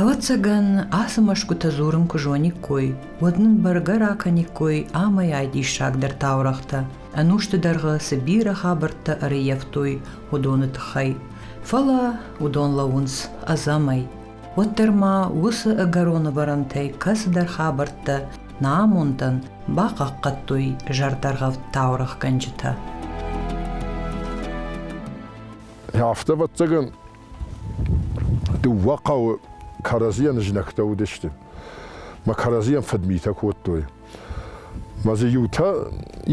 Ӕвӕццӕгӕн, ацы мӕсгуытӕ дзурын куы зониккой, уӕд нын бӕргӕ ракӕниккой амӕйай диссагдӕр таурӕгътӕ, ӕнусты дӕргъы цы бирӕ хабӕрттӕ ӕрыййӕфтой, уыдоны тыххӕй. Фӕлӕ уыдон лӕууынц ӕдзӕмӕй. Уӕддӕр ма уыцы ӕгӕрон ӕвӕрӕнтӕй кӕцыдӕр хабӕрттӕ нӕ амондӕн бахъахъхъӕдтой зӕрдӕргъӕвд таурӕгъгӕнджытӕ. Афтӕ ӕвӕццӕгӕн дыууӕ хъӕуы кӕрӕдзийӕн знӕгтӕ уыдысты. Мӕ кӕрӕдзийӕн фыдмитӕ кодтой. Мӕ дзы иутӕ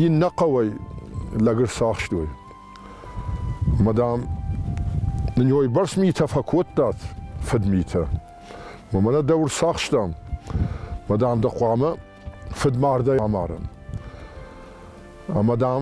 иннӕ хъӕуӕй лӕгыр сахстой. Мӕ дам, нын йойбӕрц митӕ фӕкодтат, фыдмитӕ. Мӕ нӕ дӕ ӕрцахстам. Мӕ дам, дӕ хъуамӕ фыдмардӕй амарӕм. Ӕмӕ дам,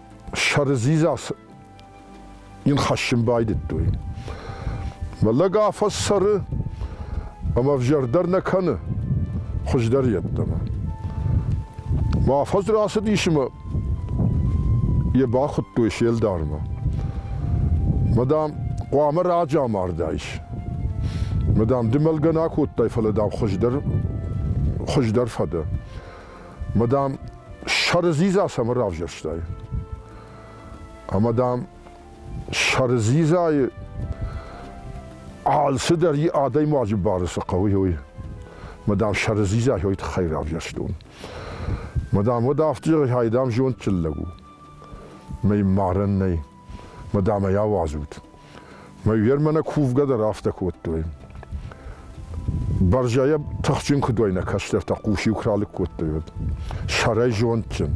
сӕрдзидза йын хӕссын байдыдтой. Мӕ лӕг афӕссӕры ӕмӕ взӕрдӕр нӕ кӕны хуыздӕр йеддӕмӕ. Мӕ афӕдз рацыдис ӕмӕ йӕ бахуыдтой се лдармӕ. Мадам, хъуамӕ раджы амардаис. Мадам, ды мӕлгӕ нӕ кодтай, фӕлӕ дам хуыздӕр, хуыздӕр фӕдӕ. Ӕмӕ, дам, сӕрдзидза цӕмӕн равзӕрстай? Ӕмӕ, дам, сӕрдзидзайы алцыдӕр и адӕймаджы бары цы хъӕуы, уый. Ӕмӕ, дам, сӕрдзидза йой тыххӕй равзӕрстон. Ӕмӕ, дам, уӕд афтӕ зӕгъай, дам, зондджын лӕг у. Мӕй марӕн нӕй. мадам ӕй ауадзут. Мӕ вермӕнӕ кувгӕ дӕр афтӕ кодтой. Бӕрзӕйӕ тыхджын куыдойнӕ кӕстӕртӕ хъус-иу куы ралыг кодтой, уӕд. Сӕрӕй зондджын.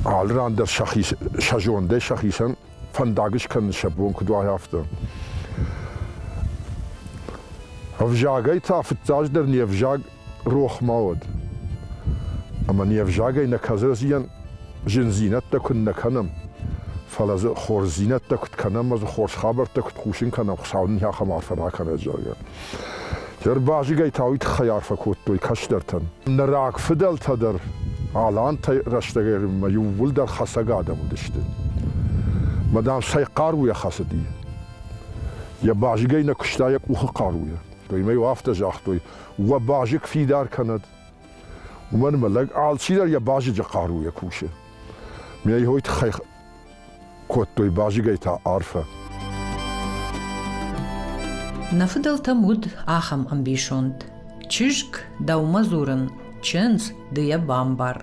Алы ран дӕр сӕхи, сӕ зондӕй сӕхицӕн фӕндаг скӕнын сӕ бон куыд уа, афтӕ. Ӕвзагӕй та фыццаджыдӕр не взаг рох ма уӕд. Ӕма не взагӕй нӕ кӕдзӕзийӕн зиндзийнӕдтӕ куд нӕ кӕнӕм, фалӕ дзы хорздзийнӕдтӕ куд кӕнӕм ӕма дзы хорз хабӕрттӕ куд хъусын кӕнӕм, Хуцау нин ахӕм арфӕ ракӕнӕд, зӕгъгӕ. Тербазигӕй та уый тыххӕй арфӕ кодтой кӕстӕртӕн. Нӕ рагфыдӕлтӕ дӕр алантӕй рӕстӕгмӕ иууылдӕр хӕцӕг адӕм уыдысты. Мадам цӕй хъаруйӕ хӕцыди. Йӕ базыгӕй нӕ куыста йӕ къухы хъаруйӕ. Той мӕ иу афтӕ загътой, уӕ базыг фидар кӕнӕд. Уымӕн ӕмӕ лӕг алчидӕр йӕ базыджы хъаруйӕ кусы. Ме йой тыххӕй кодтой базыгӕй та арфӕ. Нӕ фыдӕлтӕм уыд ахӕм ӕмбисонд. Чызг, дӕумӕ дзурын, чындз, ды йӕ бамбар.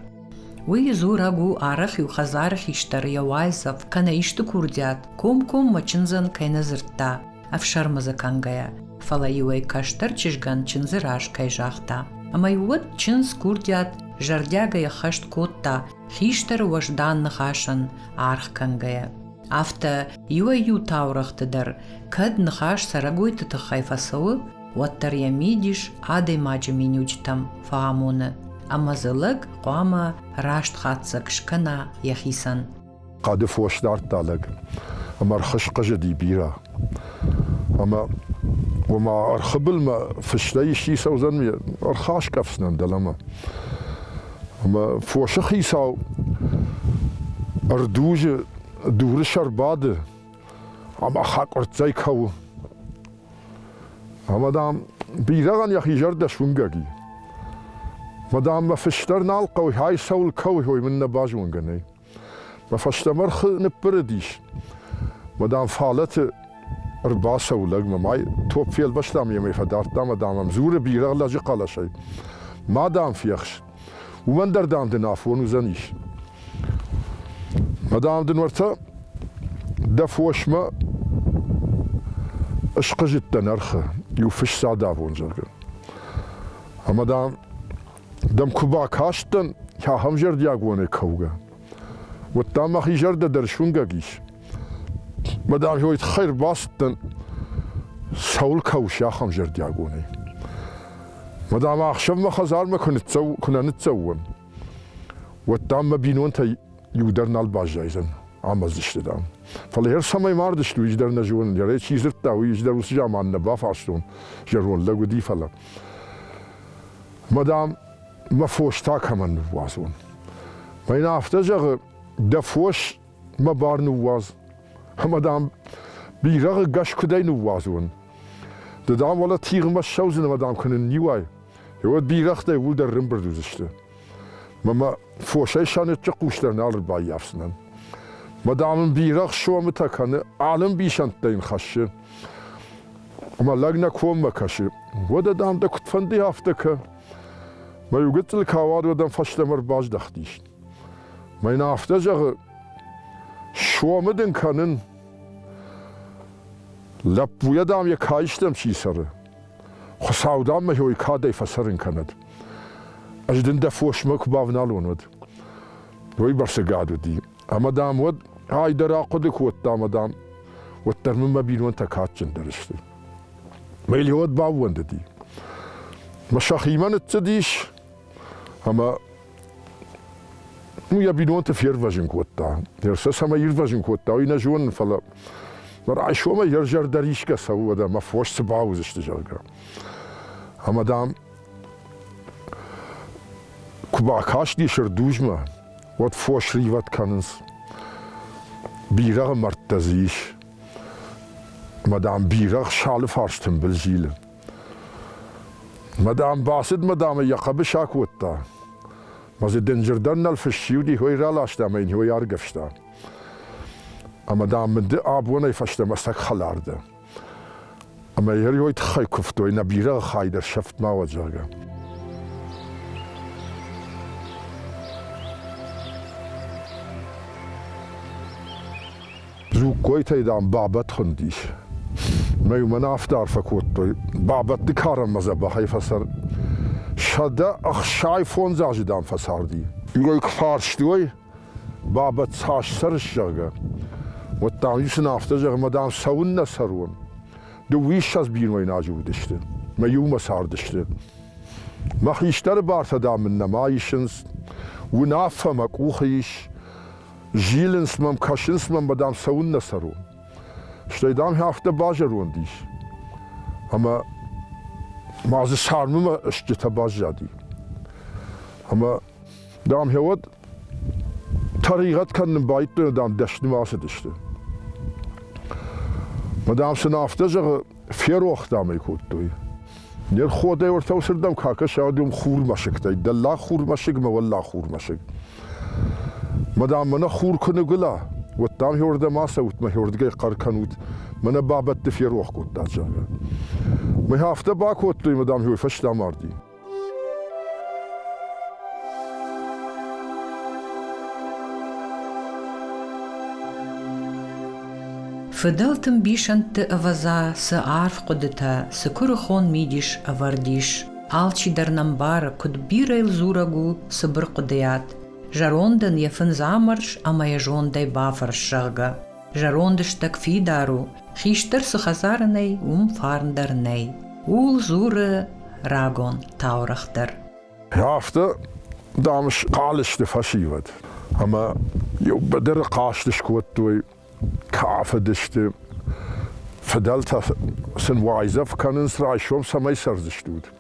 Уый дзурӕг у арӕх-иу хӕдзары хистӕр йӕ уайдзӕф кӕнӕ исты курдиат комкоммӕ чындзӕн кӕй нӕ дзырдта, ӕфсӕрмы дзы кӕнгӕйӕ, фӕлӕ-иу ӕй кӕстӕр чызгӕн чындзы раз кӕй загъта. Ӕмӕ-иу уӕд чындз курдиат зӕрдиагӕй ӕххӕст кодта, хистӕры уӕздан ныхасӕн аргъ кӕнгӕйӕ. Афтӕ иуӕй-иу таурӕгъты дӕр, кӕд ныхас цӕрӕгойты тыххӕй фӕцӕуы, уӕддӕр йӕ мидис адӕймаджы миниуджытӕм фӕамоны, ӕмӕ дзы лӕг хъуамӕ раст хатдзӕг скӕна йӕхицӕн. хъӕды фос дардта лӕг ӕмӕ ӕрхызхъызыди бирӕ. Ӕмӕ ома ӕрхы былмӕ фыстӕй исчи цӕудзӕн, ӕрхаскъӕфдзынӕн дӕлӕмӕ. Ӕмӕ фосы хицау ӕрдузы дуры сӕр бады ӕмӕ хӕкъуырццӕй кӕуы. Ӕмӕ, дам, бирӕгъӕн йӕхи зӕрдӕ суынгӕг и. Мадам, мӕ фыстӕр нал хъӕуы, ай цӕуыл кӕуы, ой мын нӕ базонгӕ нӕй. Мӕ фӕстӕмӕ рхы ныббырыдис. Мадам Фалӕты ӕрбацӕуы лӕгмӕ, май топп фелвӕстам йемӕ фӕдардтам, мадам ӕм дзуры бирӕгъ лӕджы хъӕлӕсӕй. Мадам фехс, уымӕн дӕр дам дын афон уыдзӕнис. Мадам дын уӕртӕ дӕ фосмӕ ысхъызыдтӕ нӕрхы, иу фысс адавон, зӕгъгӕ. Ӕмӕ, дам, дӕм куы бакастӕн, ахӕм зӕрдиагонӕй кӕугӕ, уӕдта мӕхи зӕрдӕ дӕр сунгӕг ис. Мӕ дӕр уой тхӕй рбацыдтӕн, цӕуыл кӕуыс ахӕм зӕрдиагонӕй. Мадам, ӕхсӕв мӕ хӕдзармӕ куы нӕ ныццӕуон, уӕдта мӕ бинонтӕй иу дӕр нал баззайдзӕн амӕдзысты, дам. Фӕлӕ йӕр цӕмӕй мардыстут, ис дӕр нӕ зонын, йӕ чи дзырдта, уый ис дӕр уыцы заман нӕ бафарстон, зӕронд лӕг уыди, фӕлӕ. ма, дам, мӕ фос та кӕмӕн ныууадзон? Мӕ йын афтӕ зӕгъы, дӕ фос мӕ бар ныууадз. Ӕмӕ, дам, бирӕгъы гӕс куыдӕй ныууадзон? Ды, дам, уӕлӕ тигъмӕ ссӕудзынӕ, ма, дам, куы нынниуай, уӕд бирӕгътӕй уылдӕр рымбырд уыдзысты. Мӕ мӕ фосӕй сӕныччы хъус дӕр нал ӕрбаййафдзынӕн. Ма, дам, ын бирӕгъ сомытӕ кӕны, ӕлымбисӕндтӕ йын хӕссы. Ӕмӕ лӕг нӕ коммӕ кӕсы. Уӕдӕ, дам, дӕ куыдфӕнды афтӕ кӕ. Мӕ иу гыццыл куы ауад, уӕд ӕм фӕстӕмӕ ӕрбаздӕхтис. Мӕ йын афтӕ зӕгъы, сомы дын кӕнын. Лӕппуйӕ, дам, йӕ каистӕм чи цӕры. Хуыцау, дам, мӕ хой кӕдӕй фӕцӕрын кӕнӕд. Ӕз дын дӕ фосмӕ куы бавналон, уӕд. Уый бӕрцы гад уыди. Ӕмӕ, дам, уӕд ай дӕр ахъуыды кодта, ӕмӕ, дам, уӕддӕр мын мӕ бинонтӕ кадджындӕр сты. Мӕ Илиод баууӕндыди. Мӕ сӕхимӕ ныццыдис, ӕмӕ ну, йӕ бинонты фервӕзын кодта. Ерсӕ цӕмӕй ирвӕзын кодта, уый нӕ зонын, фӕлӕ райсомӕй йӕ зӕрдӕ рисгӕ цӕуы, уӕдӕ мӕ фос цы бауыдзысты, зӕгъгӕ. Ӕмӕ, дам, куы бакасти Сырдузмӕ, уӕд фос ривӕд кӕнынц. Бирӕгъы мӕрдтӕ дзы ис. Мӕ дам, бирӕгъ салы фарс тымбыл зилы. Мӕ дам, бацыд мӕ дам ӕй йӕ хъӕбыс акодта. Мӕ дзы дынджырдӕн нал фыссиуди, хой раласта ӕмӕ йын хой аргӕвста. Ӕмӕ дам мын ды абонӕй фӕстӕмӕ сӕг хӕлар дӕ. Ӕмӕ йӕ уый тыххӕй куывтой, нӕ бирӕгъы хай дӕр сӕфт ма уӕд, зӕгъгӕ. Дзугкойтӕй, дам, бабӕт хуындис. Мӕ уымӕн афтӕ арфӕ кодтой, бабӕтты карӕнмӕ дзӕбӕхӕй фӕцӕр. Сӕдӕ ӕхсай фондз азы, дам, фӕцарди. Иуӕй куы фарсты уой, Баба цас сӕрыстӕгӕ, уӕддӕр-иу сын афтӕ зӕгъ, ӕмӕ, дам, цӕуыннӕ цӕрон? Дыууиссӕдз бинойнаджы уыдысты, мӕ иумӕ цардысты. Мӕ хистӕры бартӕ, дам, мын нӕма исынц, уынаффӕ мӕ къухы ис, зилынц мӕм, кӕсынц мӕм, ӕмӕ, дам, цӕуыннӕ цӕрон? Стӕй, дам, афтӕ базӕронд ис, ӕмӕ ма дзы царммӕ стджытӕ баззади. Ӕмӕ Дам, хевод тӕригъӕд кӕнын байдтойна, дам, дӕсныма цыдысты. Мадам сын афтӕ зӕгъы, ферох, дам, ӕй кодтой. Не рходӕй ортау сырдам какӕса адюм хурмӕсыгтӕй, дӕллаг хурмӕсыг мӕ уӕллаг хурмӕсыг. Мадам, мӕнӕ хур куы ныгуыла, уӕд дам хӕрдӕм ацӕут, мӕ хӕрдгӕй хъӕр кӕнут, мӕнӕ бабӕтты ферох кодтат, зӕгъгӕ. Мӕ афтӕ бакодтой, мадам, хой фӕстӕ марди. Фыдӕлты мбисӕндты ӕвӕдза цы арф хъуыдытӕ, цы куырыхон мидис ӕвӕрд ис. Алчи дӕр нӕ мбары, куыд бирӕ йыл дзурӕг у цыбыр хъуыдыйад, зӕронд ын йӕ фындз амӕрс ӕмӕ йӕ зондӕй бафӕрс, зӕгъгӕ. Зӕронд стӕг фидар у, хистӕр цы хӕдзары нӕй, уым фарн дӕр нӕй. Ууыл дзуры рагон таурӕгъ дӕр. Афтӕ, дам, схъал сты фӕсивӕд ӕмӕ иу быдыры хъазт скодтой, кафыдысты, фыдӕлтӕ сын уайдзӕф кӕнынц, райсом цӕмӕй цӕрдзыстут.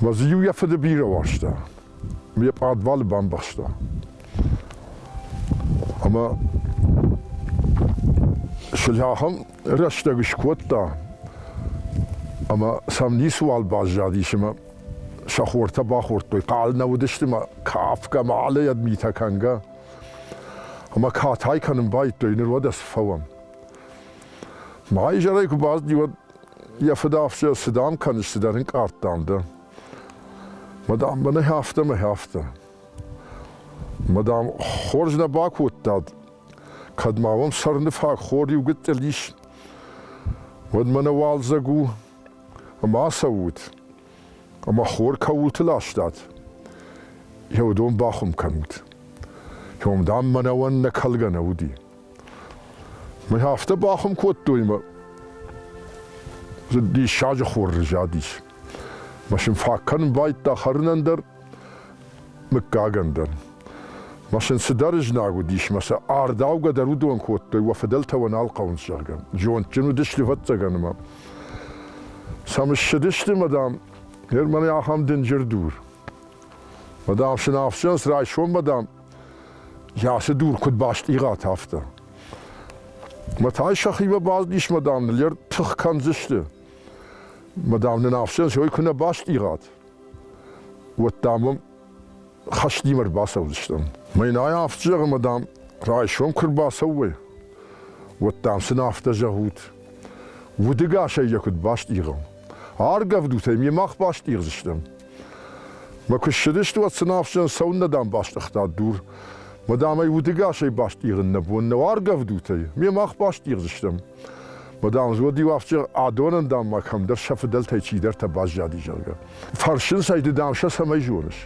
Мӕ дзы-иу йӕ фыды бирӕ уарзта, йӕ пъадвалы бамбӕхста. Ӕмӕ сыльахам рӕстӕг скодта, ӕмӕ сӕм ницыуал баззадис, ӕмӕ сӕ хортӕ бахордтой, хъал нӕ уыдысты мӕ кафгӕ, мӕлӕйӕд митӕ кӕнгӕ. Ӕмӕ катай кӕнын байдтой, ныр уӕд ӕз фӕуӕм. Мӕ изӕрӕй куы бацыди, уӕд Йӕ фыдӕфсӕр цы дам кӕныс, цыдӕр ӕнкъард дам дӕ. Мадам, мӕнӕ афтӕ, мӕ афтӕ. Мадам, хорз нӕ бакодтад. Кӕд ма уӕм сӕрны фаг хор иугӕддӕр ис, уӕд мӕнӕ уалдзӕг у, ӕмӕ ацӕут, ӕмӕ хор кӕуылты ластат, йӕ уыдон бахуым кӕнут. Ом, дам, мӕнӕуӕн нӕ кӕлгӕ нӕ уыди. Мӕ афтӕ бахуым кодтой мӕ диссаджы хоры задис. Машин фаг кӕнын байдта хӕрынӕн дӕр, мыггагӕн дӕр. Машин цыдӕр ызнаг уыдис, мӕ сӕ ардаугӕ дӕр уыдон кодтой, уӕ фыдӕлтӕ уӕ нал хъӕуынц, зӕгъгӕ. Зондджын уыдысты, вӕццӕгӕн, ӕмӕ. Сӕм ссыдысты, мадам, гӕр мӕнӕ ахӕм дынджыр дур. Мадам, сын ӕфсӕнс райсом, мадам, Йӕ ацы дур куыд бастъигъат, афтӕ. Мӕ тай сӕхимӕ базыдис, мадам, ныл йӕ тых кӕндзысты. Мадам, нын афсӕс ой куы нӕ бастъигъат, уӕд та мӕм хӕстимӕ ӕрбацӕудзыстӕм. Мӕнӕй афтӕ зӕгъы, мадам, райсом куы рбацӕуой, уӕд дам сын афтӕ зӕгъут. Удыгасӕй йӕ куыд бастъигъам. Аргӕвдутӕй ме мах бастъигъдзыстӕм. Мӕ куы ссыдысты, уӕд сын ахсджын цӕуыннӕ дам бастъыгъта дур. Мадам ӕй удыгасӕй бастъигъын нӕ бон нӕу аргӕвдутӕй, ме мах бастъигъдзыстӕм. Мадам Зоди-иу ахсджын адонӕн, дам, ма кӕмдӕр сӕ фыдӕлтӕй чидӕртӕ баззади, зӕгъгӕ. Фӕрсынц ӕй, ды, дам, сӕ цӕмӕй зоныс?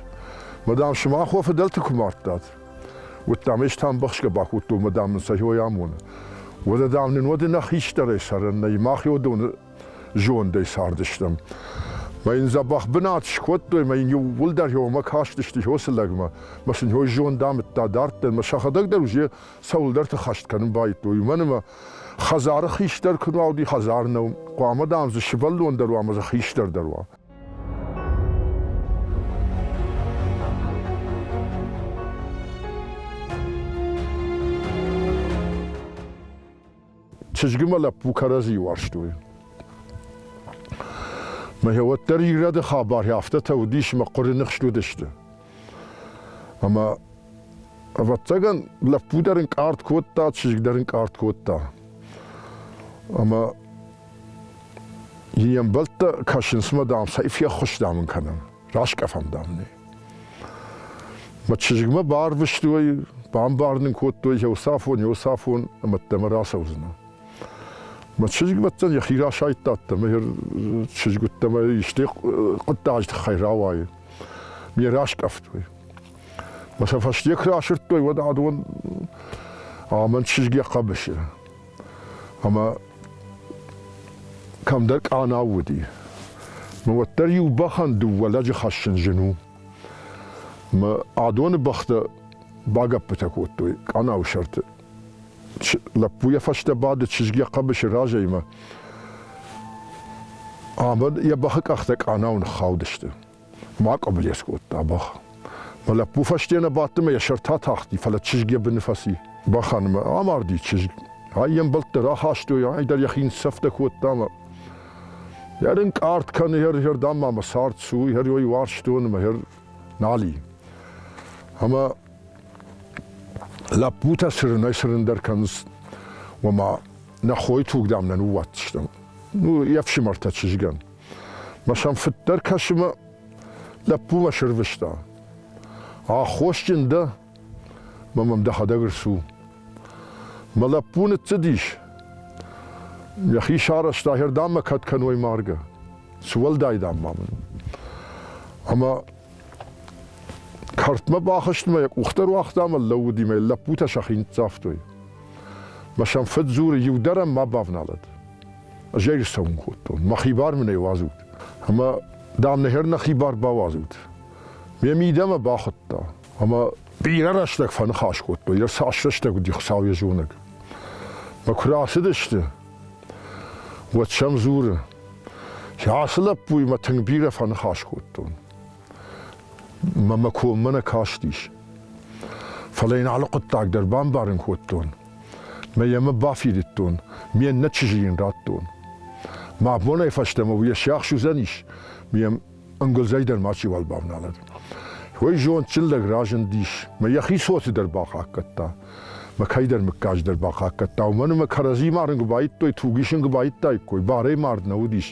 Мадам, сымах уӕ фыдӕлты куы мардтат. Уӕд, дам, ӕз тӕмбӕхсгӕ бакодтон, мадам нын сӕ хой амоны. Уӕдӕ, дам, нын уӕды нӕ хистӕрӕй цӕрӕн нӕй, мах йодоны зондӕй цардыстӕм. Мӕ йын дзӕбӕх бынат скодтой, мӕ йын иууылдӕр йемӕ кастысты Жосы лӕгмӕ. Мӕ сын йой зонд амыдта дарддӕр, мӕ сӕхӕдӕг дӕр уже цӕуылдӕрты хӕст кӕнын байдтой. Уымӕн ӕмӕ хӕдзары хистӕр куы нуа уыди, хӕдзар нӕу. Хъуамӕ, дам, дзы сывӕллон дӕр уа ӕмӕ дзы хистӕр дӕр уа. Чызгимӕ лӕппу кӕрӕдзийы уарзтой. Мӕ уӕддӕр ирӕды хабар афтӕтӕ уыдис, мӕ хъуыры ныхст уыдысты. Ӕмӕ ӕвӕццӕгӕн лӕппу дӕр ын къард кодта, чызг дӕр ын къард кодта. Ӕмӕ йе мбӕлттӕ кӕсынц мӕ, дам, цӕй феххуыстам ын кӕнӕм. раскъӕфӕм, дам, нӕ. Мӕ чызгмӕ барвыстой, бамбарын кодтой, Иосафон, Иосафон, ӕмӕ дӕмӕ рацӕудзынӕ. Мӕ чызгмӕттӕн йӕхи расайдта ӕддӕмӕ, йӕ чызг уыдтӕмӕ исты хъуыддаджы тыххӕй рауайы. Ме раскъӕфтой. Мӕ сӕ фӕстӕ куы расырдтой, уӕд адон амӕн чызг йӕ хъӕбысы. ӕма кӕмдӕр къанау уыди. Мӕ уӕддӕр иу бӕхӕн дыууӕ лӕджы хӕссын зын у. Мӕ адоны бӕхтӕ багӕппытӕ кодтой къанауы сӕрты. Лӕппу йӕ фӕстӕ бады чызг йӕ хъӕбысы разӕй ӕмӕ йӕ бӕхы къӕхтӕ къанау ныххаудысты. Ма къӕблес кодта бӕх. Мӕ лӕппу фӕстейӕ бадти мӕ йӕ сӕртӕ атахти, фӕлӕ чызг йӕ быны фӕци. Бӕхӕн мӕ амарди чызг. Ай йе мбӕлттӕ рахастой, ай дӕр йӕхи ныццӕфтӕ кодта мӕ. Йӕр ын къард кӕны, йӕр йӕрдӕм ма мӕ цард цу, йӕр ой уарзтон мӕ, йӕр нали. Ӕмӕ лӕппутӕ сырынӕй-сырындӕр кӕнынц, ома нӕ хойы туг, дам, нӕ ныууадздзыстӕм. Ну, йе фсымӕртӕ чызгӕн. Мӕ сӕм фыддӕр кӕсымӕ лӕппумӕ сырвыста. Аххосджын дӕ? Мӕ мӕм дӕхӕдӕг рцу. Мӕ лӕппу ныццыдис. Йӕхи сарӕзта, хӕрдаммӕ кӕд кӕной маргӕ. Цы уӕлдай дам ма мын? Ӕмӕ кӕртмӕ бахызтмӕ йӕ къухтӕ руагъта ӕмӕ лӕууыди мӕ лӕппутӕ сӕхи ныццавтой. Мӕ сӕм фыд дзуры, иу дӕр ӕм ма бавналӕд. Ӕз ӕй рцӕун кодтон, мӕхи бар мын ӕй уадзут. Ӕма, дам, нӕхер нӕхи бар бауадзут. Ме мидӕмӕ бахудта, ӕма бирӕ рӕстӕг фӕныхас кодтой, йӕ цас рӕстӕг уыди Хуыцау йӕ зонӕг. Мӕ куы рацыдысты, уӕд сӕм дзуры, ацы лӕппуйы мӕ тынг бирӕ фӕныхас кодтон. Мӕ мӕ коммӕ нӕ кастис. Фӕлӕ йын алы хъуыддаг дӕр бамбарын кодтон, Мӕ йӕ мӕ бафидыдтон, ме ннӕ чызджы йын радтон. Мӕ абонӕй фӕстӕмӕ уый йӕ сиахс уыдзӕнис, ме ӕнгуылдзӕй дӕр мачиуал бавналӕд. Уый зондджын лӕг разындис, мӕ йӕхи цоты дӕр бахъахъхъӕдта, мӕ кӕйдӕр мыггаж дӕр бахъахъхъӕдта, уымӕн ӕмӕ кӕрӕдзимӕ арын куы баидтой, туг исын куы баидтаиккой, барӕй мард нӕ уыдис.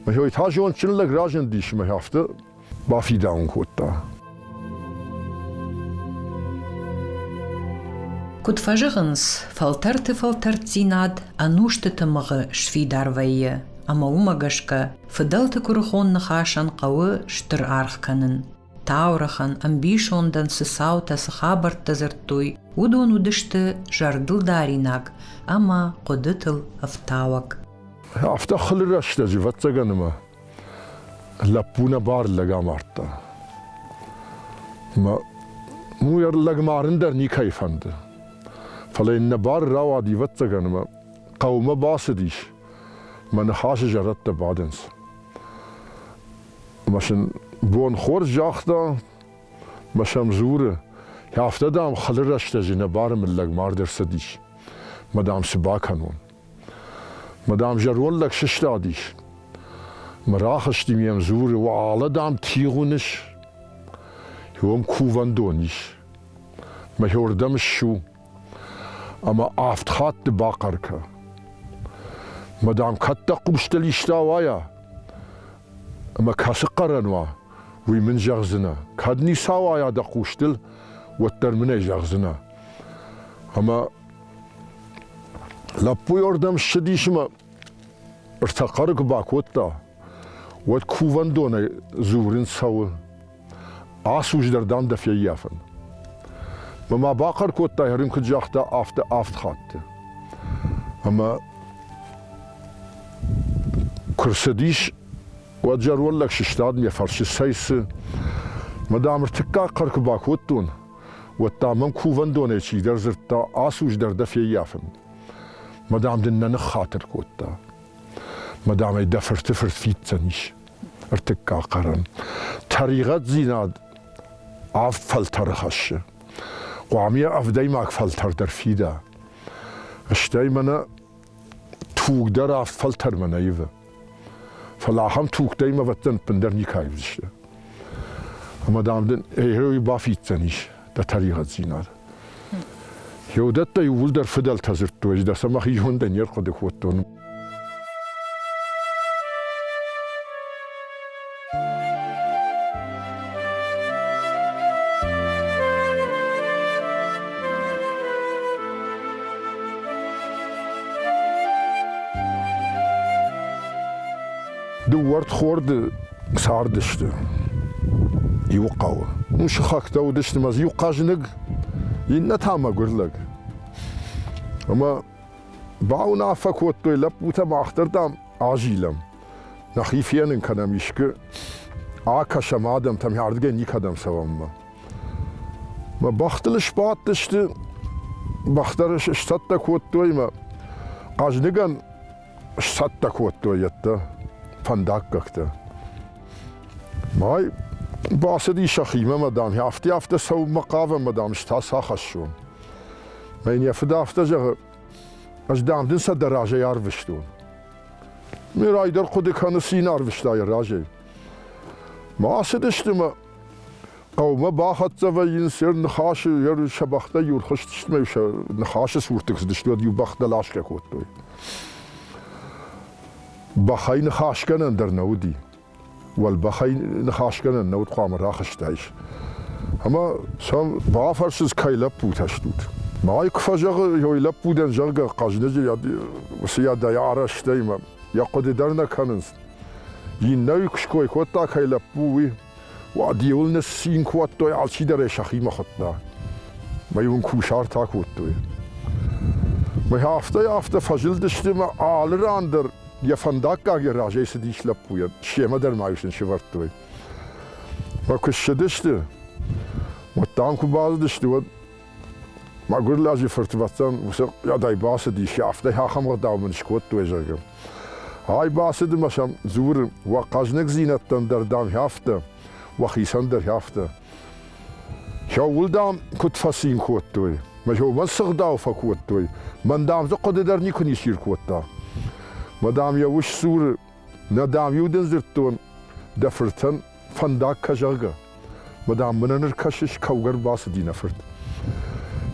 Мӕ та зондджын лӕг разындис, мӕ афтӕ Бафидаун кодта. Куыд фӕзӕгъынц, фӕлтӕрты фӕлтӕрддзинад ӕнусты тымыгъы сфидар вӕййы, ӕмӕ уымӕ гӕсгӕ фыдӕлты куырыхон ныхасӕн хъӕуы стыр аргъ кӕнын. Таурӕхъӕн, ӕмбисондӕн цы цаутӕ, цы хабӕрттӕ дзырдтой, уыдон уыдысты зӕрдылдаринаг ӕмӕ хъуыдытыл ӕфтауӕг. Афтӕ хылы рӕстӕджы, ӕвӕццӕгӕн, ӕмӕ Лӕппу нӕ бар лӕг амардта. Мӕ муй лӕг марын дӕр никӕй фӕнды. Фӕлӕ йын нӕ бар рауад ивӕццӕгӕн ӕмӕ хъӕумӕ бацыдис. Мӕ ныхасы зӕрӕдтӕ бадынц. Мӕ сын бон хорз загъта, мӕ сӕм дзуры, афтӕ, дам, хылы рӕстӕджы нӕ бары мын лӕг мард ӕрцыдис. Мӕ дам, цы бакӕнон? Мадам зӕронд лӕг сыстадис. Мӕ рахызтим йӕм дзуры, уӕлӕ, дам, тигъ уыныс? Иом кувӕндон ис. Мӕхиордӕм ссу ӕмӕ авд хатты бахъӕр кӕ. Мадам, кӕд дӕ хъустыл иста уайа? Ӕмӕ кӕцы хъӕрӕн уа, уый мын зӕгъдзынӕ. Кӕд ница уайа дӕ хъустыл, уӕддӕр мын ӕй зӕгъдзынӕ. Ӕмӕ Лӕппуйы ӕрдӕм ссыдис ӕмӕ ӕртӕ хъӕры куы бакодта, уӕд кувӕндонӕй дзурын цӕуы. Ацуджыдӕр, дам, дӕ феййафын. Мӕ ма бахъӕр кодтай, Хрим куыд загъта, афтӕ авд хатты. Ӕмӕ куы рцыдис, уӕд зӕронд лӕг сыстад, йӕ фӕрсы, цӕй цы? Мадам, ӕртыккаг хъӕр куы бакодтон, уӕд та мӕм кувӕндонӕй чидӕр дзырдта, ацу дӕр дӕ феййафын. Мадам дын нӕ ныххатыр кодта. Мадамӕй дӕ фырты фырт фиддзӕн ис. Ӕртыккаг хъӕрӕн. Тӕригъӕддзинад авд фӕлтӕры хӕссы. Хъуамӕ йӕ ӕвдӕймаг фӕлтӕр дӕр фида. Стӕй мӕнӕ тугдӕр авд фӕлтӕрмӕ нӕ ивы. Фӕлӕ ахӕм тугтӕй мӕвӕттӕн ӕппындӕр никӕй уыдзысты. Ӕмӕ, дам, дын герой бафиддзӕнис дӕ тӕригъӕддзинад. Геодӕттӕ иууылдӕр фыдӕлтӕ дзырдтой, ӕз дӕ сӕ мӕхи зондӕй не рхъуыды кодтон. Дыууӕрд хорды цардысты иу хъӕуы. Уым сыхӕгтӕ уыдысты мӕ иу хъӕзныг, иннӕ та мӕгуыр лӕг. Ӕмӕ бауынаффӕ кодтой лӕппутӕ мах дӕр, дам, азилӕм. нӕхи фенын кӕнӕм искы акӕсӕм адӕмтӕм, ардыгӕй никӕдӕм цӕуӕммӕ. Мӕ бӕхтыл сбадтысты, бӕхтӕ сцӕттӕ кодтой мӕ хъӕзныгӕн сцӕттӕ кодтой йедтӕ фӕндаггӕгтӕ. Май бацыди сӕхимӕ, мадам, афтӕ афтӕ цӕуынмӕ хъавӕм, мадам, ӕз та сахӕссон. Мӕ йын йӕ фыд афтӕ зӕгъы, ӕз дам дын сӕ дӕ разӕй арвыстон. Ме райдӕр хъуыды кӕны цин арвыста йӕ разӕй. Ма ацыдысты мӕ хъӕумӕ бахӕццӕ вӕййын се ныхасы, йӕ сӕ бӕхтӕ иу рхызтысты мӕ сӕ ныхасы цуртыг цыдысты, уӕд иу бӕх дӕласгӕ кодтой. Бӕхӕй ныхасгӕнӕн дӕр нӕ уыди. уӕлбӕхӕй ныхасгӕнӕн нӕ уыд хъуамӕ рахызтаис. Ӕмӕ сӕм бафӕрсынц, кӕй лӕппутӕ стут? Ма куы фӕзӕгъы, йой лӕппудӕн, зӕгъгӕ, Хъӕзныджы уыцыйадӕй арӕзтӕй мӕ йӕ хъуыды дӕр нӕ кӕнынц. Иннӕ куы ской кодта, кӕй лӕппу, уый, уӕд иуыл ныссин кодтой, алчидӕрӕй сӕхимӕ хуыдта. Мӕй уын кусартӕ кодтой. Мӕй афтӕ-афтӕ фӕзылдысты мӕ алы ран дӕр Йӕ фӕндаггаг йӕ разӕй цыдис лӕппуйӕ, семӕ дӕр ма иу сын сывӕрдтой. Фӕ куы ссыдысты, уӕд дам куы базыдысты, уӕд мӕгуыр лӕджы фыртвӕцӕн уыцы ӕдӕй бацыдис, афтӕ ахӕм ӕгъдау мын скодтой, зӕгъгӕ. Ай бацыд ӕмӕ сӕм дзуры, уӕ хъӕзныгдзинӕдтӕн дӕр дам хӕфтӕ, уӕхицӕн дӕр хӕфтӕ. Сӕуыл, дам, куыд фӕцин кодтой. Мӕ сӕумӕ сыгъдау фӕкодтой. Мӕн, дам, дзы хъуыды дӕр никуы нисир кодта. Мӕ, дам, йӕ ус дзуры, нӕ, дам-иу дын дзырдтон, дӕ фыртӕн, фӕндаг кӕ, зӕгъгӕ. Мӕ, дам, мын ныр кӕсыс, кӕугӕ рбацыди нӕ фырт.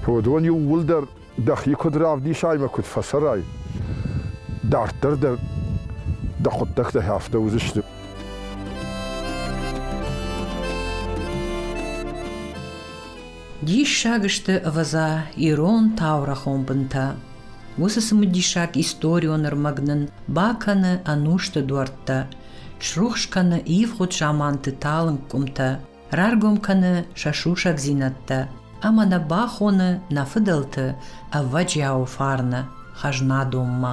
Уыдон иууылдӕр дӕхи куыд равдисай ӕмӕ куыд фӕцӕрай, дарддӕр дӕ дӕ хъуыддӕгтӕ афтӕ уыдзысты. Диссаг сты, ӕвӕдза, ирон таурӕхон бынтӕ. Уыцы цымыдисаг историо нырмӕг нын бакӕны ӕнусты дуӕрттӕ, срухс кӕны ивгъуыд заманты талынг къуымтӕ, раргом кӕны сӕ сусӕгдзинӕдтӕ ӕмӕ нӕ бахоны нӕ фыдӕлты ӕвӕджиауы фарны хӕзнадонмӕ.